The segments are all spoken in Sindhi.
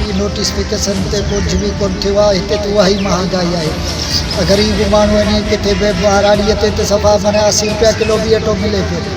هي نوٽيفڪيشن تي ڪجهه به ڪونه ٿيو آهي هتي ته اها ئي مهانگائي آهي اگر هي به ماڻهو اڃي ڪٿي به ٻهراڙي تي ته صفا معنيٰ اسي روپيا ڪلو به اٽو ملي پيو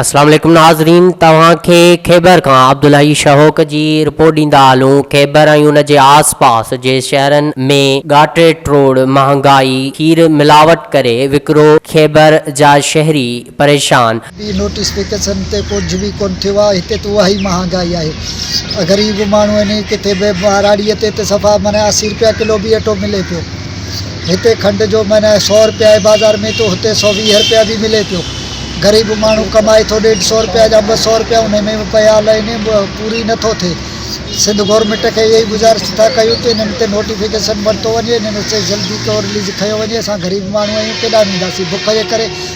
السلام عليڪم ناظرين توهان کي خيبر کان عبدالحئي شهوڪ جي رپورٽ ڏيندا هلون خيبر ۽ ان جي آس پاس جي شهرن ۾ ڳاٽي ٽوڙ مهانگائي کير ملاوٽ ڪري وڪرو خيبر جا شهري پريشان ٻي نوٽيفڪيشن تي ڪجهه به ڪونه ٿيو آهي هتي ته اهائي مهانگائي آهي غريب ماڻهو آهن ڪٿي به ٻهراڙي تي ته صفا معنيٰ اسي روپيا ڪلو به اٽو ملي پيو هتي کنڊ جو معنيٰ سو روپيا آهي بازار ۾ ته هتي سو ويهه روپيا به ملي پيو غريب ماڻهو ڪمائي ٿو ڏيڍ سو روپيا يا ٻه سو روپيا ان ۾ به پيا لهن پوري نٿو ٿئي سنڌ گورنمينٽ کي اهائي گذارش ٿا ڪيون ته انهن تي نوٽيفڪيشن ورتو وڃي انهن تي جلدي طور ليز کنيو وڃي اسان غريب ماڻهو آهيون ڪيڏانهن وينداسين بک جي ڪري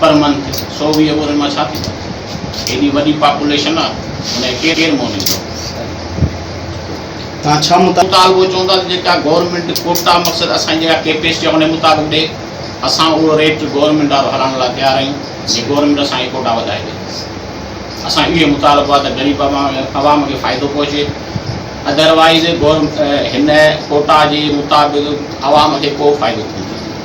پر من کي سو ويهه ٻورين مان ڇا ٿيندو؟ هيڏي وڏي پاپوليشن آ ان کي ڪير مونيندو؟ توهان ڇا مطالبو چوندا ته جيڪا گورنمينٽ ڪوٽا مقصد اسان جي جيڪا ڪيپيسٽي آ ان مطابق ڏي اسان اهو ريٽ گورنمينٽ وارو هلائڻ لاء تيار آهيون جي گورنمينٽ اسان کي ڪوٽا وڌائي ڏي اسان اهو مطالبو آ ته غريب عوام کي فائدو پهچي اڌروائيز هن ڪوٽا جي مطابق عوام کي ڪو فائدو ڪونه ٿيندو.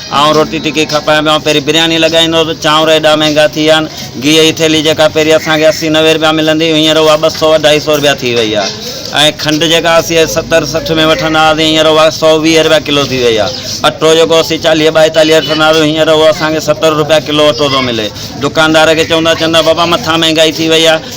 آئون روٽي ٽڪي کپائي پيو پهرين برياني لڳائيندو هو ته چانور ايڏا مهنگا ٿي ويا آهن گيهه جي ٿيلهي جيڪا پهرين اسان کي اسي نوي رپيا ملندي هئي هينئر اها ٻه سؤ اڍائي سؤ رپيا ٿي وئي آهي ۽ کنڊ جيڪا اسي ستر سٺ ۾ وٺندا هئاسين هينئر اها سؤ ويهه رپيا ڪلو ٿي وئي آهي اٽو جيڪو اسي چاليهه ٻائيتاليهه وٺندا هئاسين هينئر اهو اسان کي ستر رپيا ڪلو اٽو ٿو ملي دڪاندار کي چئون ٿا چون ٿا بابا مٿان مهنگائي ٿي وئي آهي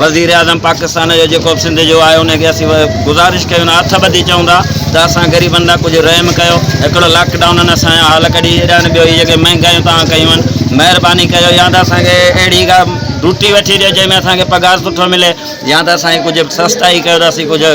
وزيراعظم پاڪستان جو جيڪو به سنڌ جو آهي ان کي اسين گذارش ڪيون ۽ هٿ ٻڌي چئون ٿا ته اسان غريبن ڏانهن ڪجهه رحم ڪيو هڪڙو لاڪ ڊائونن اسان جا حال ڪڍي ڇڏيا آهن ٻيو هي جيڪي مهنگايون توهان ڪيون آهن مهرباني ڪيو يا ته اسان کي اهڙي ڪا ڊوٽي وٺي ڏيو جنهن ۾ اسان کي پگهار سٺو ملي يا ته اسان کي ڪجهه سستائي ڪيو ته اسين ڪجهه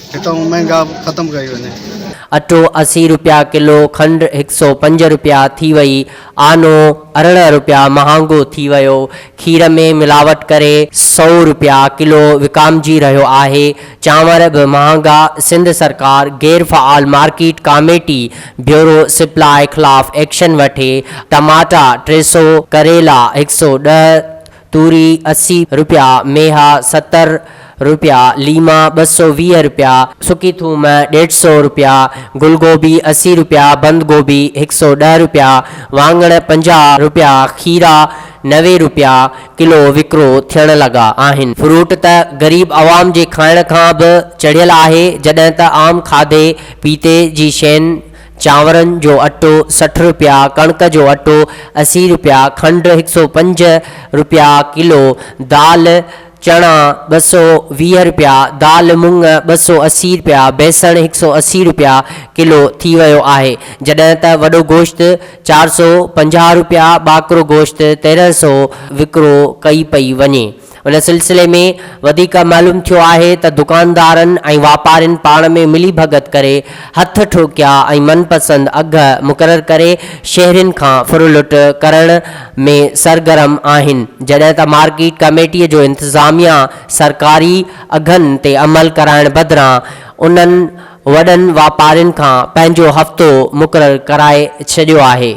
هتان مهانگا به ختم ڪئي وڃي. اٽو اسي روپيا ڪلو، کنڊ هڪ سؤ پنج روپيا ٿي وئي، آنو ارڙهن روپيا مهانگو ٿي ويو، کير ۾ ملاوٽ ڪري سؤ روپيا ڪلو وڪامجي رهيو آهي، چانور به مهانگا، سنڌ سرڪار غير فعال مارڪيٽ ڪاميٽي بيورو سپلاء خلاف ايڪشن وٺي، ٽماٽا ٽي سؤ، ڪريلا هڪ سؤ ڏهه، توري اسي رپيا، ميها ستر رپيا، ليما ٻه سؤ ويهه رپيا، سڪي ٿوم ڏيڍ سؤ رپيا، گل گوبي اسي رپيا، بند گوبي هڪ سؤ ڏهه رپيا، واڱڻ پنجاهه رپيا، کيرا نوي رپيا ڪلو وڪرو ٿيڻ لڳا آهن. فروٽ ته غريب عوام جي کائڻ کان به چڙهيل آهي، جڏهن ته عام کاڌي پيتي جي شين چانورن جو اٽو سٺ رپيا، ڪڻڪ جو اٽو اسي رپيا، کنڊ هڪ سؤ پنج رپيا ڪلو، دال چڻا ٻه سؤ ويهه رپيا، دال مڱ ٻه سؤ اسي رپيا، بيسڻ هڪ سؤ اسي رپيا ڪلو ٿي ويو آهي، جڏهن ته وڏو گوشت چار سؤ پنجاهه رپيا، ٻاڪرو گوشت تيرنهن سؤ وڪرو ڪئي پئي وڃي. ان سلسلي ۾ وڌيڪ معلوم ٿيو آهي ته دڪاندارن ۽ واپارين پاڻ ۾ ملي ڀڳت ڪري هٿ ٺوڪيا ۽ من پسند اگهه مقرر ڪري شهرين کان ڦرلٽ ڪرڻ ۾ سرگرم آهن جڏهن ته مارڪيٽ ڪميٽي جو انتظاميا سرڪاري اگهن تي عمل ڪرائڻ بدران انهن وڏن واپارين کان پنهنجو هفتو مقرر ڪرائي ڇڏيو آهي.